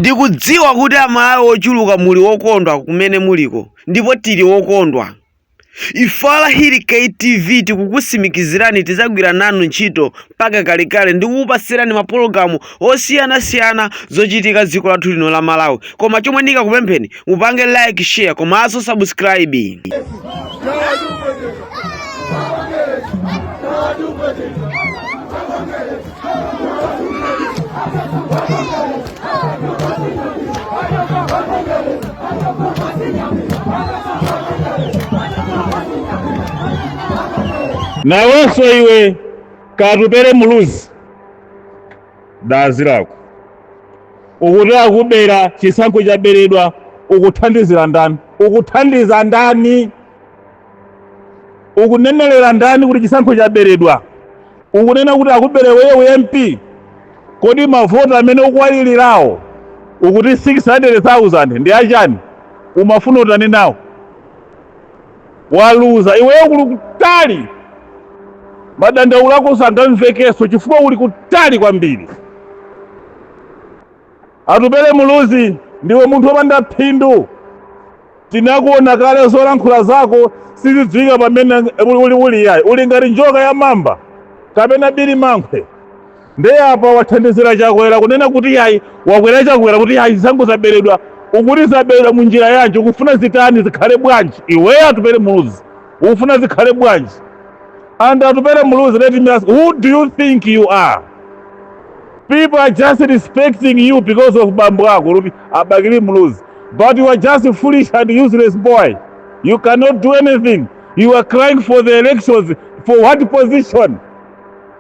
Ndikudziwa kuti amalawi ochuluka muli okondwa kumene muliko ndipo tili okondwa Ife a Hali K TV tikukusimikizirani tizagwira nanu ntchito mpaka kalekale ndikukupatsirani mapologalamu osiyanasiyana zochitika dziko lathu lino la Malawi koma chomwe ndingakupempheni upange like share komanso subscribe nawenso iwe katupere muluzi dazi lako ukuti akubera chisankho chaberedwa ukuthandizira ndani ukuthandiza ndani ukunenelera ndani kuti chisankho chaberedwa ukunena kuti akubere iweyo mp kodi mavoti amene ukuwalilirawo ukuti 600000 ndi achani umafuna utani nawo waluza iweyo kuli kutali madandaulo ako sangamvekenso chifukwa uli kutali kwambiri atupere muluzi ndiwe munthu wopanda phindu tinakuona kale zolankhula zako sizidziwika pamene uli uli yayi uli ngati njoka ya mamba kapena bilimankhwe Nde apa wathandizira chakwera kunena kuti yayi a chakwera chakwera kuti yayi zisankho zaberedwa ukuti zaberedwa munjira yanji ukufuna zitani zikhale bwanji iweyo atupere muluzi ukufuna zikhale bwanji and atupere muluzi let me ask who do you think you are people are just respecting you because of bambo ako kuti abakili muluzi but you are just foolish and useless boy you cannot do anything you are crying for the elections for what position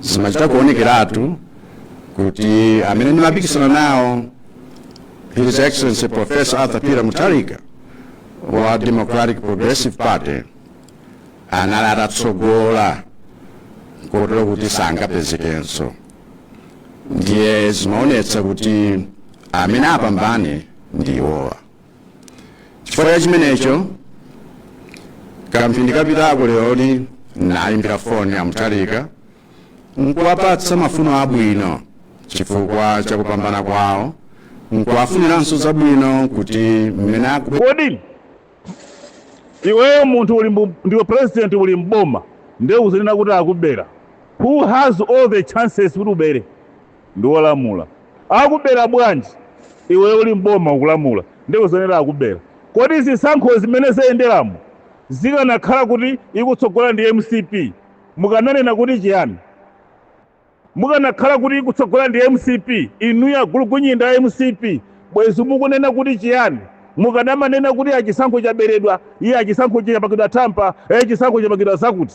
zimachita kuonekeratu kuti amene ndimapikisana nawo his excellency professor arthur peter mutharika wa democratic progressive party anali atatsogola kotero kuti sangapezekenso ndiye zimaonetsa kuti amene apambane ndi awowa chifukwa cha chimenecho kamphindi kapitako leroli ndayimbira foni a mutharika nkuwapatsa mafuno abwino chifukwa cha kupambana kwawo nkuwafuniranso zabwino kuti mmene akubwe kodi iweyo munthu uli mbu- ndiwe president uli mboma nde uzinena kuti akubera who has all the chances kuti ubere ndi olamula akubela bwanji iwe uli m'boma ukulamula nde uzinena akubela kodi zisankho zimene zayendelamu zikanakhala kuti ikutsogola ndi mcp mukananena kuti chiyani mukanakhala kuti ikutsogola ndi mcp inuyo agulugunyinda a mcp bwezi mukunena kuti chiyani mukadamanena kuti achisankho chaberedwa iye achisankho chapakidwa tippex e chisankho chapakidwa zakuti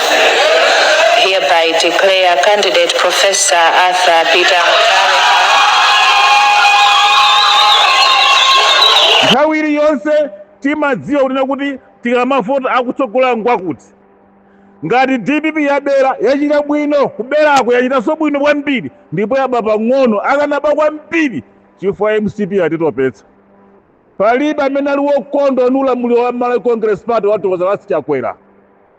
hereby declare candidate Professor Arthur Peter Mutharika nthawi iliyonse timadziwa kunena kuti tikamavota akutsogolera ngwakuti ngati dpp yabera yachita bwino kuberako yachitanso bwino kwambiri ndipo yaba pang'ono akanaba kwambiri chifukwa mcp yatitopetsa palibe amene ali wokondwa ndi ulamuliro wa malawi congress party wa Doctor Lazarus Chakwera